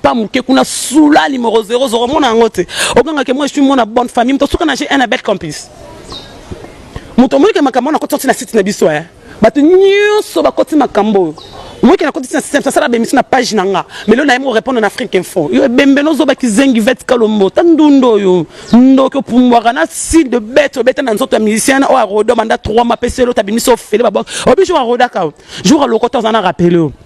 pas muke kuna sula numéro 0 zoro mona yango te oganga ke moi je suis mona bonne famille moto suka na j'ai un abel complice moto omonike makambo wana koti na site na biso eh bato nyonso bakoti makambo oyo moyeke nakotisi na systeme sasala bemisi na page na nga melo na ye morépondre na afrique info yo ebembe nozoba kizengi vete kalombo ta ndunda oyo ndoki opumbwaka na sile de bete obeta na nzoto ya musicien oyo arodo banda 3 mapesi elota bimisi ofele baboki obi jour arodaka jour alokota oza na rappele oyo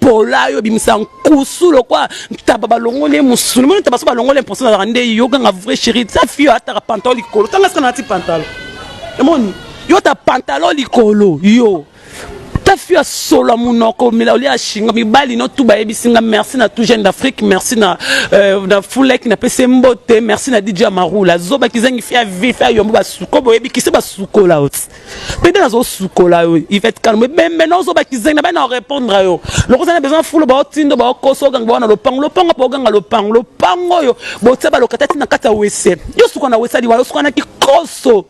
pola yo bimisa nkusu lokwa ntaba balongoli ye mosuni moni ntaba so balongoli ye mposo nazalaka nde yo ganga vrai chéri sa fille ataka pantalo likolo tanga sika nati pantalo emoni yo ta pantalo likolo yo ta fille ya solo ya monoko omela olia ya shinga mibali no tu bayebisi nga merci na tout jeune d'afrique merci na euh, na fulek napesi mbote merci na dj amarula zoba kizangi fille ya vif ya yombo basuko boyebi kisi basukola oti pede nazosukola yo ivete kalombo ebembe naozoba kizengi na bai na orépondre yo loko oza na besoin fulo baotindo baokosa oganga bawana lopango lopango mpo oganga lopango lopango oyo botia balokata ti na kati ya wese yo suka na wesali wana osuka na kikoso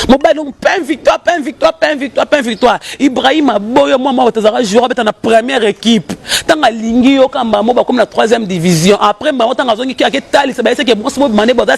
mobali yango pain victoire pain victoire pain victoire pain victoire ibrahim aboyo mwa mwa bato azalaka jour abeta na première équipe ntango alingi yo kamba mo bakomi na troisième division après mbango ntango azongi ki aketalisa bayesaki ebonso bobima nde boza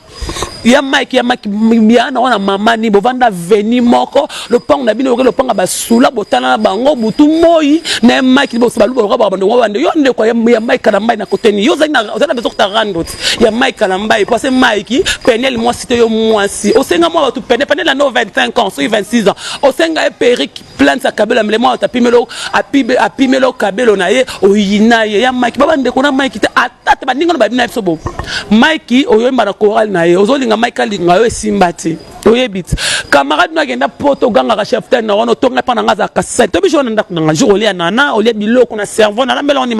ya mike ya mike ya na wana mama ni bovanda veni moko lopango na bino oke lopanga basula botala na bango butu moi na ya mike boso baluba lokola bando wa bande yo ndeko ya mike kana mbai na koteni yo zali na zali na zokta randot ya mike kana mbai parce mike penel moi site yo moi si osenga moi batu penel penel na no 25 ans so 26 ans osenga e perique plante ya kabelo amele mwa atapimelo apimelo kabelo na ye oyina ye ya mike baba ndeko na mike te atata baninga na babina biso bo mike oyoyemba na chorale na ye ozolinga mike alinga yo esimba te oyebi te camarade no agenda poto ogangaka cheftaine na wana otonga epa na nga azalaka sani to biso wana ndako na nga jour olia nana olia biloko na cerveau nalambela wani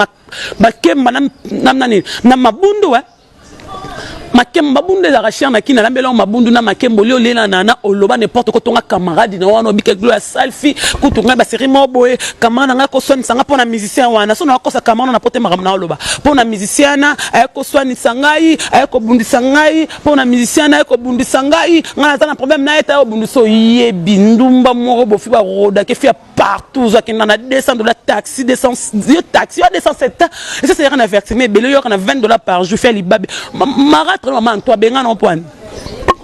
bakemba na nani na mabundu e makembo mabundu ezalaka cher na kina lambela yo mabundu na makembo lio lela na na oloba n'importe quoi tonga camarade na wana obike gloire salfi kutu ngai ba série moko boye camarade na ngai akoswanisa ngai mpo na musicien wana so na akosa camarade na pote makambo na oloba mpo na musicien wana aye koswanisa ngai aye kobundisa ngai mpo na musicien wana aye kobundisa ngai ngai naza na problème na ye te aye obundisa oyebi ndumba moko bofi barodake fi partout ozo akenda na 200 dollars taxi 200 yo taxi ya 207 ans et ça c'est rien avertissement ebele yo kana 20 dollars par jour fait libabe maratre maman Antoine benga non point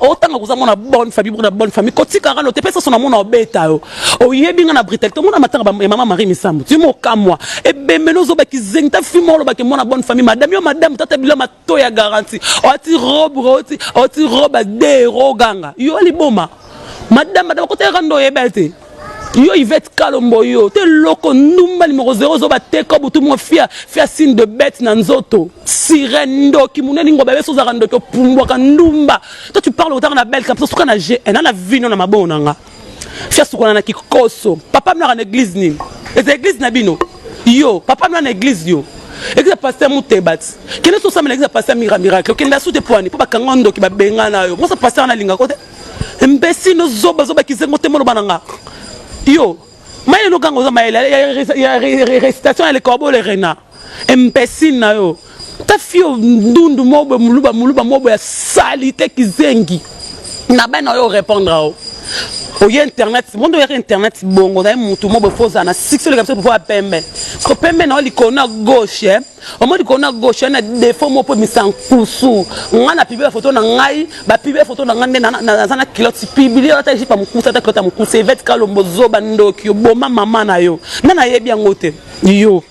otanga koza mwana bonne famille bokona bonne famille kotikaka no te mpe soso na mona obeta yo oyebi nga na brutalité omona matanga ya mama marie misambo timo okamwa ebembeli ozobaki zengita fimo olobaki mwana bonne famille madame yo madame tata bilama to ya garanti oti robe oti oti robe de roganga yo liboma madame madame koteka ndo yebel te yo ivete kalombo yo te loko ndumba nimero 0 zoba teka butu mwa fia fia signe de bete na nzoto sirene ndoki muneni ngoba beso ozalaka ndoki opumbwaka ndumba toi tu parle otanga na belka mpe suka na gn na vino na mabongo na nga fiasukana na kikoso papa mnaka na eglise nini eza eglise na bino yo papa mna na eglise yo eglise ya paster mutebati kende so osambela eglise ya paster mira miracle okenda su te pwani mpo bakanga ndoki babenga na yo mosa paster nalinga ko te mbesi no zoba zoba kizengo te moloba na nga yo mayele oganga oza mayele ya recitation ya lekorbo le rena Imbecile na yo ta fille oyo ndundu moko boye muluba muluba moko boye ya salite kizengi na bana oyo orepondre ao oye internet mondo oyaka internet bongo ozaye mutu moko boye fo ozala na succès oleka biso mpo ya pembe ko pembe na yo likolo na gauche eh? omo likolo na gauche eh, na defaut moko mpo misa nkusu nga na publie bafoto na ngai bapiblie foto na ngai nde naza na kilote publie ata ejipe ya mokusa ata kilote ya mokusa evete kalombo zoba ndoki oboma mama na yo nde nayebi yango te yo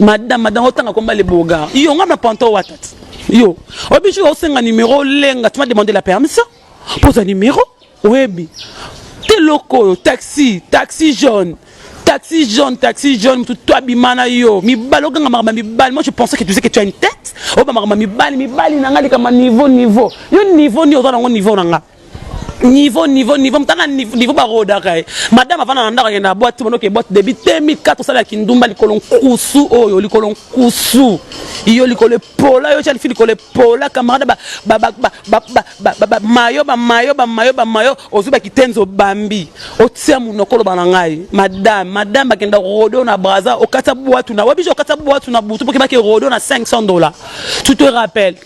madame madame otanga komba le boga yo nga na panto watat yo obishi osenga numéro lenga tu m'as demandé la permission poza numéro oyebi te loko oyo taxi taxi jaune taxi jaune taxi jaune mutu to abima na yo mibali oganga makambo ya mibali moi je pensais que tu sais que tu as une tête oyo bamakambo ya mibali mibali na nga likambo niveau niveau yo niveau nini oza nango niveau na nga niveau niveau niveau mutanga niveau barodaka ye madame avanda na ndako akenda na boite monoke boite debi 2004 osalaka kindumba likolo nkusu oyo likolo nkusu iyo likolo epola yo califi likolo epola camarade bamayo bamayo bamayo bamayo ozwi bakitenzi obambi otia monoko oloba na ngai madame madame bakenda rodo na braza okatisa bwatu na wabiso okatisa bwatu na butu mpo kebaki rodo na 500 dollars tu te rappelle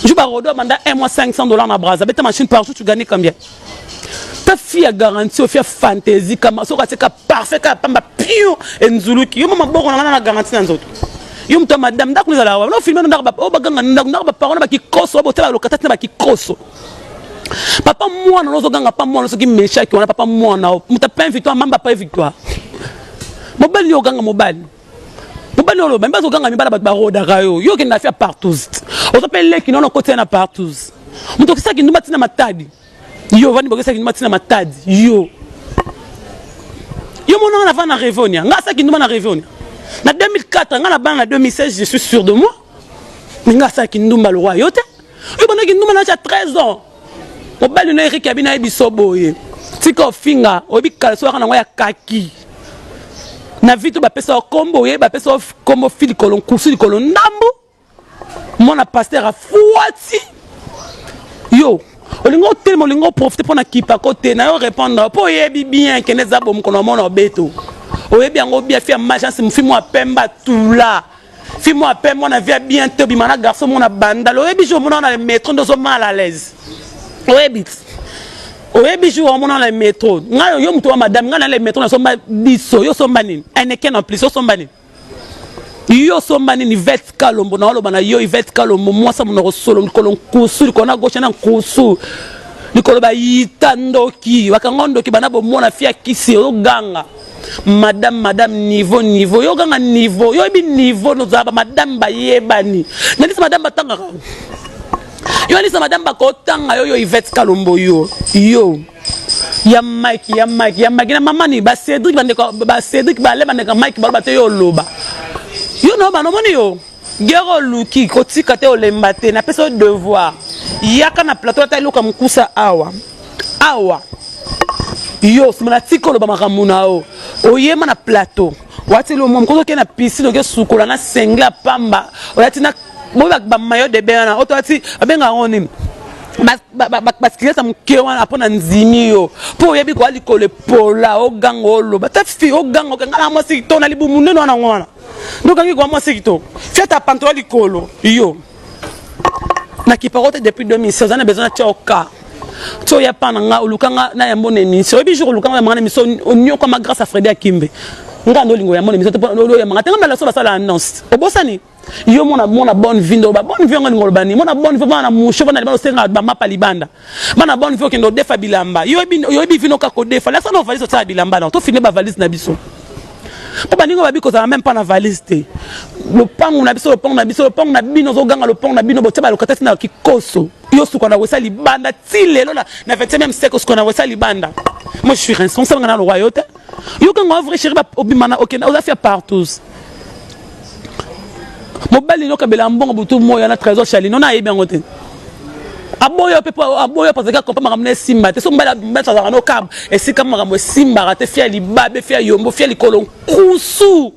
Jour ba Rodo banda un mois 500 dollars na Brazza, beta machine par jour tu gagnes combien? Ta fille a garantie, fille a fantaisie, kama soka seka parfait ka pamba pion et nzuluki. Yo mama boko na na garantie na nzoto. Yo mta madame ndaku za la wa. No filme ndaka ba o oh, baganga ndaku ndaka ba parole ba kikoso ba tela lokata tena ba kikoso. Papa mwana nozo ganga pa mwana soki meshaki wana papa mwana muta pain victoire mamba pa victoire. Mobali yo ganga mobali. bobani oloba mi bazoganga mibala bato barodaka yo yo okenda afia partous oza mpe leki nono okotia na partous moto okisaki ndumba ntina matadi yo ovandi bokisaki ndumba ntina matadi yo yo monanga na vana na revonia ngai asaki ndumba na revonia na 2004 ngai na bana na 2016 je suis sûr de moi me ngai asaki ndumba lokwa yo te yo bandaki ndumba na tia 13 ans mobali no erike abina ye biso boye tika ofinga oyebi kalasi oyaka nango ya kaki na vito bapesa yo kombo oye bapesa yo kombo fi likolo nkusu likolo ndambu mwana paster afuati yo olingi otelema olingi oprofite mpo na kipako te na yo répondre mpo oyebi bien kende eza bomokolo na mona obeto oyebi yango bia fi ya majance mofi mwa pemba tula Fille moi à peine moi na vie bien to bima na garçon mon banda lo yebi jour mona na metro ndo so mal à l'aise. Oyebi. Oyebi jour on mona na metro. Nga yo mtu wa madame nga na le metro na somba biso yo somba nini? Eneken en plus yo somba nini? yo osomba nini ivete kalombo na oloba na yo ivete kalombo mwasi ya monoko solo likolo nkusu likolo na goshe na nkusu likolo bayita ndoki bakanga ndoki bana bomona fia kisi ozoganga madame madame niveau niveau yo kanga niveau yo yebi niveau nozala ba madame bayebani nalisa madame batangaka yo alisa madame bakotanga yo yo ivete kalombo yo yo ya mike ya mike ya mike na mamani ba cedric bandeko ba cedric bale bandeko mike baloba te yo oloba yo no bana omoni yo gere oluki kotika te olemba te napesa yo devoir yaka na plateau ata eloko ya mokusa awa awa yo simana tika oloba makambo na yo oyema na plateau wati lomwa mokozi okei na pisine oke sukola na sengle ya pamba oyati na boyeba bamayo de bain wana oto wati babenga yango nini basikilisi ya moke wana mpo na ndimi yo mpo oyebi koya likolo epola oganga oloba ta fi oganga okanga na mwasi kitoko na libumu nene wana yango wana ndokangi koya mwasi kitoko fiata pantola likolo yo na kiparo te depuis 2016 oza na besoin natia oka ti oya pa na nga oluka nga na yambo na émission oyebi jour oluka nga yamanga na émission onyokwama grâce ya fredi akimbe nga nde olingo yambo na émission oyamanga te nga mbala so basala annonce obosani yo mona mona bonne vie ndoba bonne vie yango olingo olobani mona bonne vie mona na musho bana libanda osengaka bamapa libanda bana boni fo kendo defa bilamba yo yebi vino ka ko defa la sana valise sa bilamba na to fini ba valise na biso po baninga babi ko za même pas na valise te le pangu na biso le pangu na biso le pangu na bino zo ganga le pangu na bino botia ba lokatasi na kikoso yo suka na wesa libanda ti lelo na na 20 même siècle suka na wesa libanda moi je suis responsable na le royauté yo kanga vrai chéri ba obimana okenda oza fia partout mobali nyoka bela mbongo butu moya na trésor chalino na ayebi yango te aboya mpe aboya mpo azalaki akompa makambo na esimba te so mbala mbati azalaka no kab esika makambo esimbaka te fia libabe fia yombo fia likolo nkusu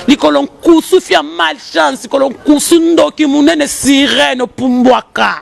likolo nkusu fia malchance likolo nkusu ndoki monene sirene opumbwaka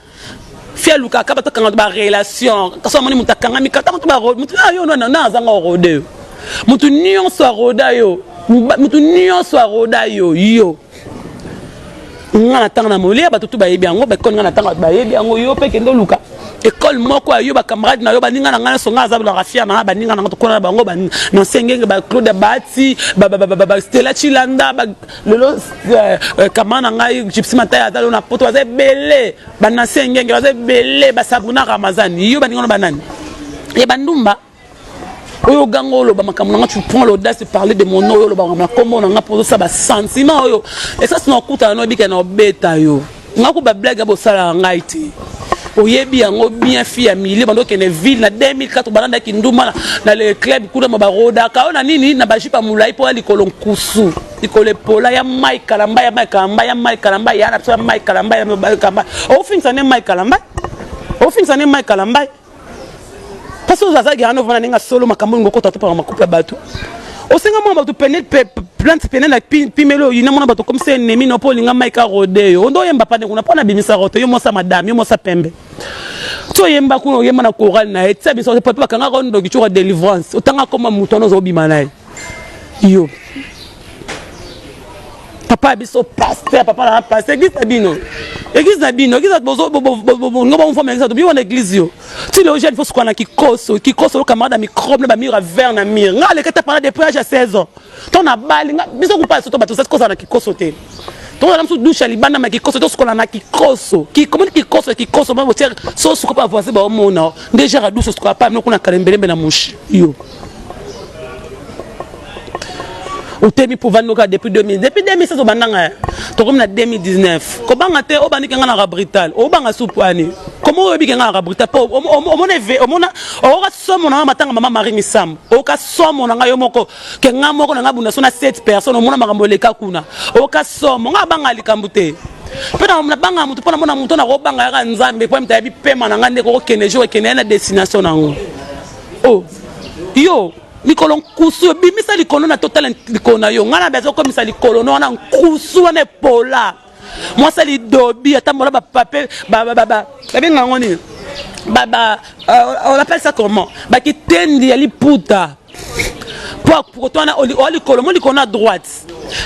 fia luka ka bato kanga ba relation kasi amoni moto akangami kata moto ba moto na yo nana na azanga orode yo moto nyonso aroda yo moto nyonso aroda yo yo nga na ntango na molia bato tu bayebi yango bakoni nga na ntango bato bayebi yango yo mpe kende oluka ekole moko ya yo bacamarade na yo baninga na ngai nyonso ngai aza bilaka fier na ngai baninga na ngai tokona na bango na nsengenge baclaude bati stela cilanda lelo euh, euh, kama na ngai gypsy mataya aza lelo na poto baza ebele banasi engenge baza ebele basabuna ramazani yo baninga no banani ya bandumba oyo oganga oloba makambo na nga tu prends l'audace de parler de mon oyo oloba makambo na kombo na nga mpo ozosala basentiment oyo esasi na okutana na obikela na obeta yo Nga ko ba blague ya bosalaka ngai te oyebi yango bien fille ya milieu bando kende ville na 2004 balanda kinduma na le club kuna ma barodaka ona nini na bajipa molai mpo ya likolo nkusu likolo epola ya mai kalamba ya mai kalamba ya mai kalamba ya na biso ya mai kalamba ya mai kalamba ofingisa nde mai kalamba ofingisa nde mai kalamba Pasi oza aza gerano vana ninga solo makambo ningo kota topaka makupe ya bato. Osenga mwa bato pene plante pene na pimelo yina mwana bato comme c'est ennemi no po linga Mike Rodeo. Ondo yemba pande kuna pona bimisa rote yo mosa madame yo mosa pembe. To yemba kuna oyemba na chorale na ye. Tsa biso pe bakanga ko ndoki chora delivrance. Otanga koma mutu anozo bima na ye. yo papa ya biso paster papa na paster eglise na bino eglise na bino eglise bolingo bamofama eglise tobi wana eglise yo ti leo jeune fosuka na kikoso kikoso lo camarade ya microbe na bamur ya vert na mur nga aleki ata pana depuis age ya 16 ans to na bali nga biso kupa soto bato sasikosa na kikoso te tozala mosusu dushe ya libanda ma kikoso tosukola na kikoso kikomoni kikoso ya kikoso ma botiere sosuka pa voisin baomona nde jara dushe osukola pa mino kuna kalembelembe na mushi yo otemi mpo ovandi noka depuis 2000 depuis 2016 obandanga ya tokomi na 2019 kobanga te obandi kenga naka brutal obanga supu ani koma oyebi kenga naka brutal mpo omona eve omona okoka somo na nga matanga mama marie misambo okoka somo na nga yo moko kenga moko na nga bunda so na 7 personne omona makambo eleka kuna okoka somo nga abanga likambo te mpe nabanga motu mpo namona motu nakobanga yaka nzambe mpo moto ayebi pema na ngai nde kokokende jour ekende ya na destination na yango oh yo likolo nkusu obimisa likolo na totala likolo na yo ngai na baza okomisa likolo na wana nkusu wana epola mwasi alidobi atambola bapape babenga yango nini euh, on appelle ça comment bakitendi ya liputa mpo koto wana olikolo mo likolo na droite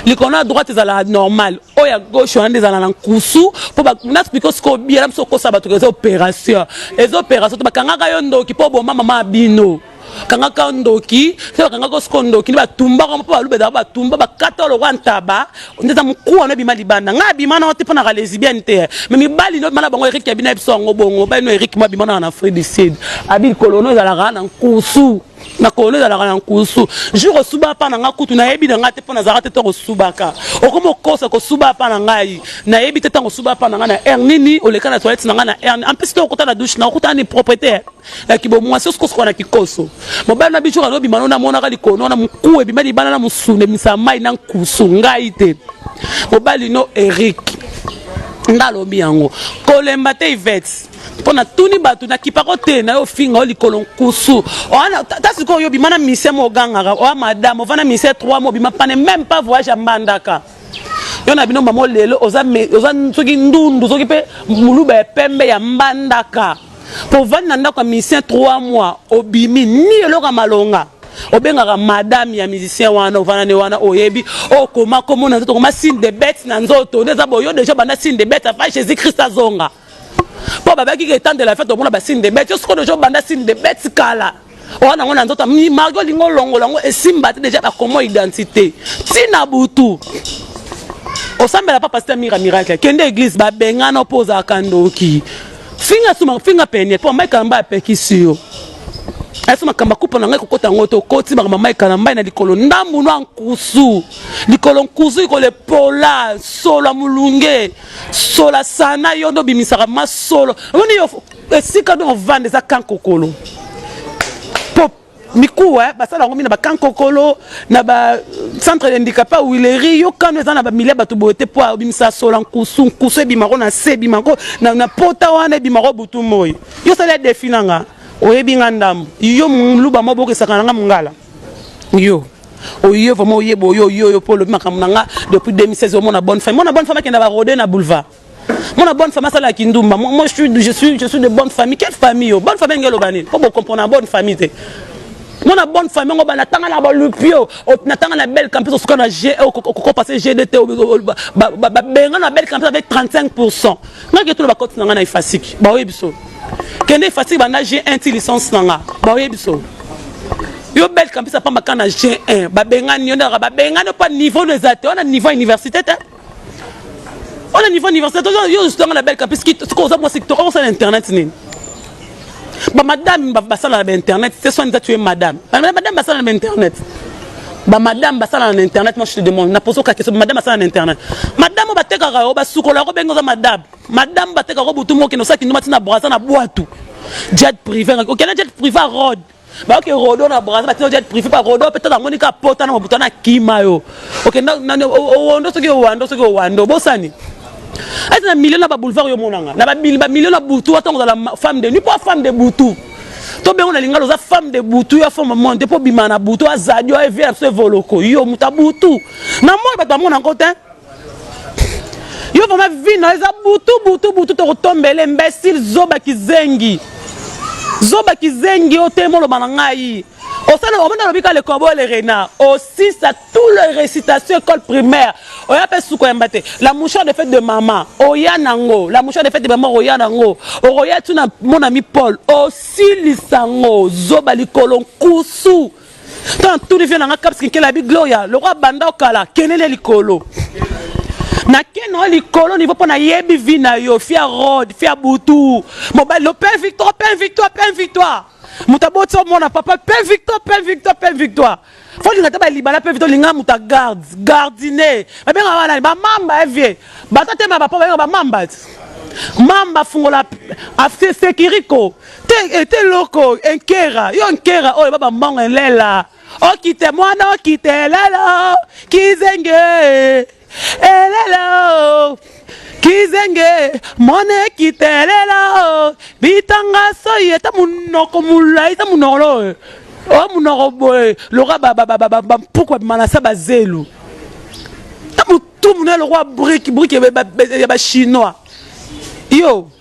likolo na droite ezala normal oyo ya gauche wana nde ezala na nkusu mpo banati biko sikoyo obiela biso okosa bato eza opération eza opération te bakangaka yo ndoki mpo oboma mama bino kangaka ndoki se bakangaka osiko ndoki nde batumbaka mpo baluba ezalaka batumba bakata lokola ntaba nde eza mokuwa no ebima libanda ngai abima nao te mpo naka lesibiane te me mibali no bima na bango erike abina biso yango bongo bali no erike mo abima naka na afrique du sud abi likolo no ezalaka na nkusu na kolo ezalaka na nkusu jour osuba apa na ngai kutu nayebi na ngai te mpo nazalaka te ntango osubaka okomi okosa kosuba apa na ngai nayebi te ntango osuba apa na ngai na air nini oleka na toilette na ngai na air en plus to okuta na douche na okuta ni propriété ya kibomwasi osikosuka na kikoso mobali na bijour alobima no namonaka likono na moku ebima libana na mosuni ebimisa mai na nkusu ngai te mobali no eric nda alobi yango kolemba te ivete mpo natuni bato nakipako te na yo ofinga yo likolo nkusu ta sikoyo oyo obima na mise mo ogangaka oya madame ovanda mise 3 mo obima pane meme pas voyage ya mbandaka yo na bino mamo lelo oza soki ndundu soki mpe moluba ya pembe ya mbandaka mpo ovandi na ndako ya mise 3 mois obimi ni eloko ya malonga obengaka madame ya musicien wana ovanda ne wana oyebi okoma komona nzoto okoma signe de bete na nzoto nde eza boyo deja banda signe de bete afa jésus christ azonga mpo babaki ke temps de la fete omona basine de bete yo sikoyo deja obanda sine de bete kala oza nango na nzoto mimaki olingi olongola yango esimba te deja bakomo identité ntina butu osambela papa sita mira miracle kende eglise babengana mpo ozalaka ndoki finga suma finga pene mpo mike alamba apekisi yo aso makambo akupa na ngai kokota yango te okoti makambo mai kala mbai na likolo ndambu nwa nkusu likolo nkusu likolo epola solo ya molunge sola sana yo nde obimisaka masolo omoni yo esika nde ovanda eza kankokolo po mikuwa eh, basala yango mi na bakankokolo na bacentre de handicapa wileri yo kano eza na bamilia bato boye te mpo obimisa sola nkusu nkusu ebimako na se ebimako na, na pota wana ebimako butu moi yo sala defi na nga oyebi nga ndambo yo moluba mobokisaka na nga mongala yo oye vraiment oye boye oye oyo mpo olobi makambo na nga depuis 2016 omona bonne femme mona bonne femme akenda barode na boulevard mona bonne femme asala ya kindumba moi je suis, je suis, je suis de bonne famille quelle famille yo bonne famille ndenge eloba nini mpo bokomprona bonne famille te mona bonne famille yango banatanga na balupio natanga na belle campus osuka na g okopase gd te babenga na belle campus avec 35 pourcent ngaki etuna bakoti na ngai na efasiki baoyebi so kende efasiri banda g1 ti licence na nga baoyebi so yo bel kampisa pamba ka na g1 babengani yo ndaka babengani opa niveau no eza te wana niveau ya université te wana niveau université yo ozutanga na bel kampis soki oza mwasi kitoko okosala internet nini bamadame basala na bainternet te soin eza tue madame bamadame basala na bainternet bamadame basala na internet moi je te demande naposa okakisa bamadame basala na internet madame oyo batekaka yo basukola yo kobenga oza madame Madame bateka ko butu mokino saki nduma tina braza na bwatu. Jet privé okenda jet privé road. bayoki rodo na braza batino jet privé pa rodo mpe tata amoni ka pota na mobutu na kima yo okenda owando soki owando soki owando obosani ati na milio na baboulevard yo omonanga na bamilio na butu watango ozala femme de nuit mpo femme de butu to bengo na lingala oza femme de butu ya femme monde mpo obima na butu azadi oevie na biso evoloko yo moto ya butu na moi bato bamona yango te yo vraiment vie na eza butu butu butu tokotombele imbecile zoba kizengi zoba kizengi yo te moloba na ngai osala omona alobi ka le corbeau le renard osisa tout le récitation école primaire oya mpe suka yamba te la mouchard de fête de mama oya nango la mouchard de fête de mama oya nango okoya tu na monami paul osilisa ngo zoba likolo nkusu Tant tout le vie nanga caps kinkela bi gloria lokwa banda okala kenele likolo na ken oyo likolo nivo mpo nayebi vi na yo fia rod fia butu mobali lo pain victoire pain victoire pain victoire moto aboti omona papa pain victoire pain victoire pain victoire fo olinga te balibala pain victoire olinga moto agarde gardine babenga wana bamamba evie eh, batatema bapa babenga bamamba mamba fungola afsekiriko Te ete loko enkera yo nkera oyo baba mbongo elela okite mwana okite elela kizenge elela kizenge mwana ekite elela bitanga soyi eta munoko mulai ta munoko lo o munoko boye loka bampuku babima na sa bazelu ta motu muna lokola brike brike ya bachinois yo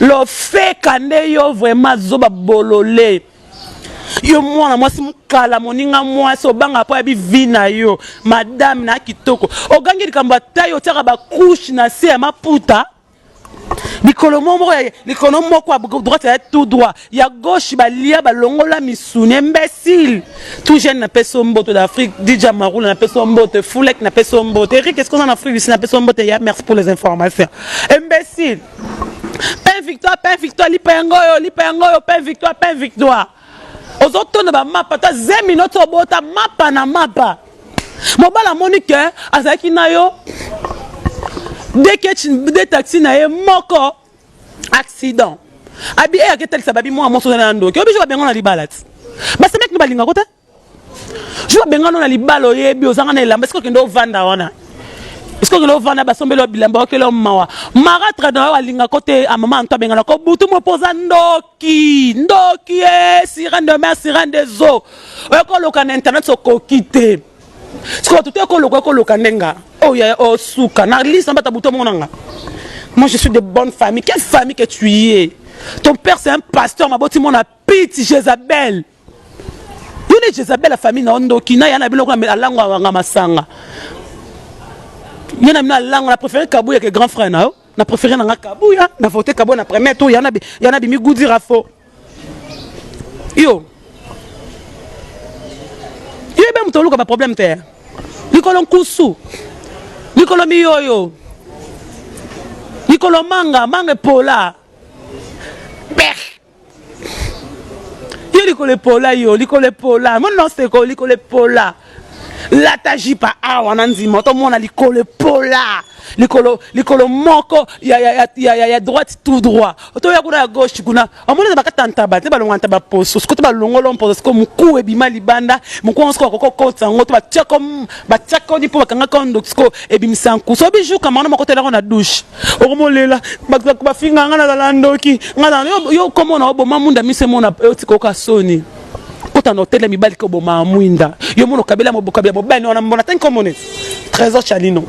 lofeka nde yo vraiment zoba bolole yo mwana mwasi mokala moninga mwasi obanga mpo ya bivi na yo madame na kitoko ogangi likambo ata yo otiaka bakushe na se ya maputa likolo moko moko ya likolo moko ya droite ya tout droit ya gauche balia balongola misuni imbécile tout jeune na peso mboto d'Afrique DJ Marula na peso mboto Foulek na peso mboto Eric est-ce qu'on en Afrique ici na peso mboto ya merci pour les informations imbécile pain victoire pain victoire lipa yango yo lipa yango yo pain victoire pain victoire ozotonda ba mapa ta zemi noto obota mapa na mapa mobala amoni ke azalaki na yo de taxi na ye moko accident abi eya ke talisa babi mwa moso na ndoki obi jour abenga na libala ti basemeki no balinga ko te jour abenga no na libala oyebi ozanga na elamba sikoyo kende ovanda wana sikoyo kende ovanda basombeli bilamba okeli mawa maratre na yo alinga ko te amama anto abengana ko butu mo mpo oza ndoki ndoki e sirene de mer sirene des eaux oyekooloka na internet sokoki te sikoyo tutu ekoloka ekoloka nde nga oyo oh, yaya osuka oh, na lisa mbata butu omona nga moi je suis de bonne famille quelle famille que tu y es ton père c'est un pasteur maboti mona pite jezabel yo nde jezabel ya famille na yo ndoki na ya na biloko alango awanga masanga ye na bino alango na préféré kabuya ke grand frère na yo na préféré na nga kabuya na vote kabuya na premier tour yana bimi gudira fo yo yo ebe moto oluka baproblème te likolo nkusu likolo miyoyo likolo manga manga epola per yo likolo epola yo likolo epola monoseko likolo epola lata jipa awa na nzima otomona likolo epola likolo likolo moko ya, ya, ya, ya, ya, ya droite tout droit otoya kuna ya gauche kuna omoni eza bakata ntaba te balonga ntaba poso sikoyo to balongolo mposo sikoyo moku ebima libanda moku yango sikoyo bakoki kokotisa yango to batiako batiakoni mpo bakangaki yango ndoki sikoyo ebimisa nku so bijuka mano moko telako na dushe okomolela bafinga ngai nazala ndoki ngai yo okomona oboma munda miso emona otika oka soni kota na hotel ya mibali koboma mwinda yo mono kabela mobokabela bobani wana mbona tanki komone trésor chalino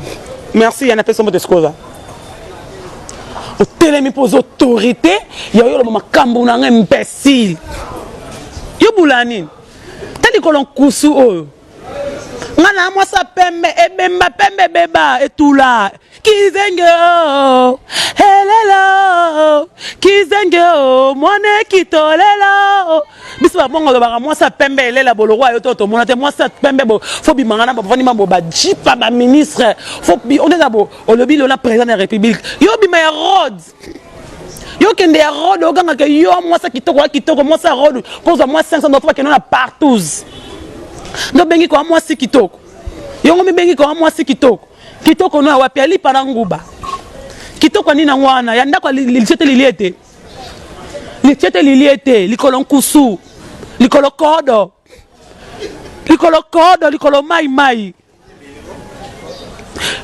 merci yana pesa mbote sikoza otelemi mpo oza autorité ya oyoloba makambo na ngai imbécile yo bula nini ta likolo nkusu oyo nga na mwasi ya pembe ebemba pembe ebeba etula kizenge o elelo kizenge o mwana ekitolelo biso babongo olobaka mwasi ya pembe elela boloko ayo to tomona te mwasi ya pembe fo bimanga na bafandi mambo bajipa baministre fo oneza bo olobi lona président ya république yo bima ya rode yo kende ya rode oganga ke yo mwasi kitoko ya kitoko mwasi ya rode kozwa mwa 500 dollars bakende na partous nde obengi koya mwasi kitoko yongo mibengi koya mwasi kitoko kitoko no ya wapi alipa na nguba kitoko ya nini yango wana ya ndako litie te lilie te litie te lilie te likolo nkusu likolo kodo likolo kodo likolo mai mai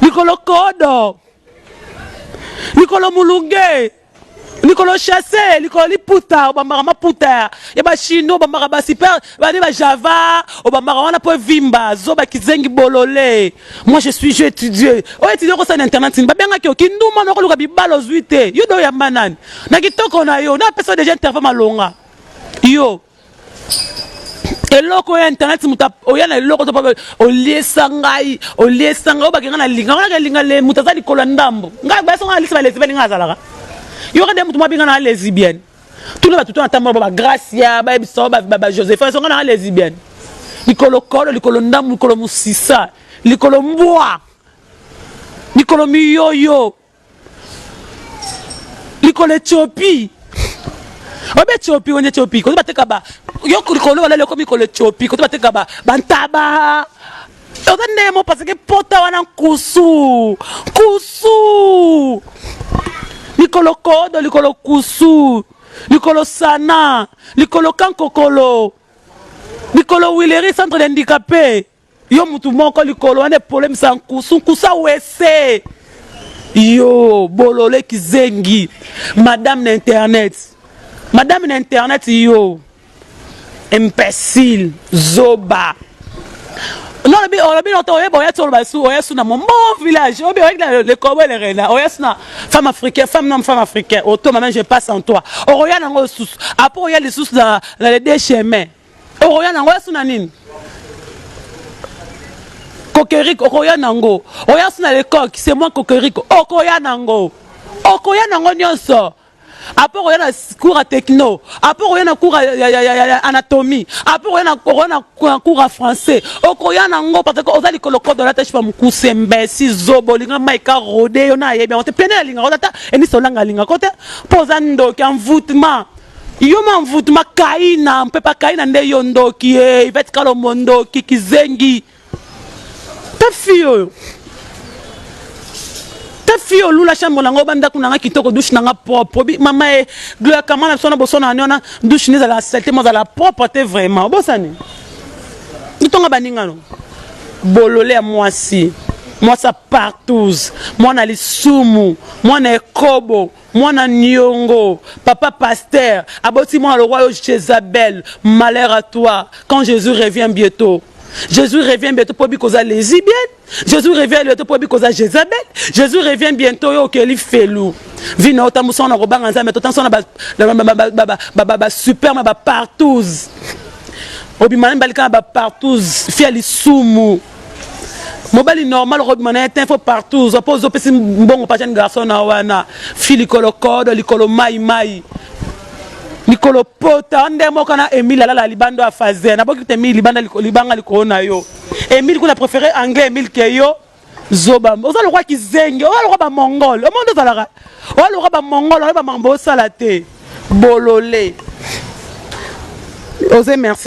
likolo kodo likolo mulunge likolo chasse likolo liputa obambaka maputa ya bachino obambaka basuper bani bajava obambaka wana mpo evimba zoba kizengi bolole moi je suis je étudie oyo étudie okosala na internet nini babengaki yo kinduma na okoluka bibala ozwi te yo de oyamba nani na kitoko na yo napesa deja interview malonga yo eloko ya internet moto oya na eloko to pabe oliesa ngai oliesa ngai obake ngai na linga wana kelinga le moto aza likolo ya ndambo ngai bayeso ngai na lisi balesi bani ngai azalaka yoka nde moto mwa binga na lesbienne tuna bato to na tambola ba bagracia bayebisa ba josephin esonga na lesbienne likolo kolo likolo ndambo likolo mosisa likolo mbwa likolo miyoyo likolo etiopi obe etiopi wende etiopi kozo bateka ba yo likolo balali okomi likolo etiopi kozo bateka ba bantaba oza ndenge mo parce que pota wana nkusu nkusu likolo kodo likolo kusu likolo sana likolo kankokolo likolo wileri centre de handicapé Yo mutu moko likolo wana epolemisa nkusu nkusu awese yo bolole kizengi madame na internet madame na internet yo imbecile zoba olobi olobi noto oyeba oya tsolo basu oya suna mon bon village obi oya na le kobo le rena oya suna femme africaine femme non femme africaine oto maman je passe en toi okoya nango susu après oya lisusu na na les deux chemins okoya nango ya suna nini kokerik okoya nango oya suna le coq c'est moi kokerik okoya nango okoya nango nyonso apo okoya na cours ya techno apo okoya na cours ya anatomie apo okoya na cours ya français okoya nango parce que oza likolo kodo olata shipa mokuse mbesi zobo olinga mai ka rode yo na ayebi yango te pene alingaka ozata enisa olanga alingaka te mpo oza ndoki envoutment Yo mamvutu makaina mpe pakaina nde yo ndoki ye Yvette Kalombo ndoki kizengi ta fille oyo ta fille oyo lula chambre na ngo ba ndako na nga kitoko douche na nga propre obi mama e Gloria Kamana biso na boso na wana douche ne zala saleté mo zala propre te vraiment obosani ntonga baninga no bolole ya mwasi mwasi ya partouze mwana lisumu mwana ekobo Mwana niongo papa pasteur aboti mwana lokwa yo Jezabel malheur à toi quand Jesus revient bietot Jesus revient bientôt po bikoza lesbienne Jesus revient bientôt po bikoza Jezabel Jesus revient bientôt yo okeli felu vie na otambusa na kobanga Nzambe totambusa na ba ba ba ba superme ba partous obimana mbalika na ba partous fia lisumu mobali normal okobima na ye te fo partout ozwa mpo ozopesi mbongo mpa jeune garçon na wana fi likolo kodo likolo mai mai likolo pota nde moko na emile alala libanda ya faze naboki te emile libanda libanga likolo na yo emile kuna préféré anglais emile ke yo zoba oza lokola kizengi oza lokola bamongole omoi nde ozalaka oza lokola bamongole oyeba makambo osala te bolole oze merci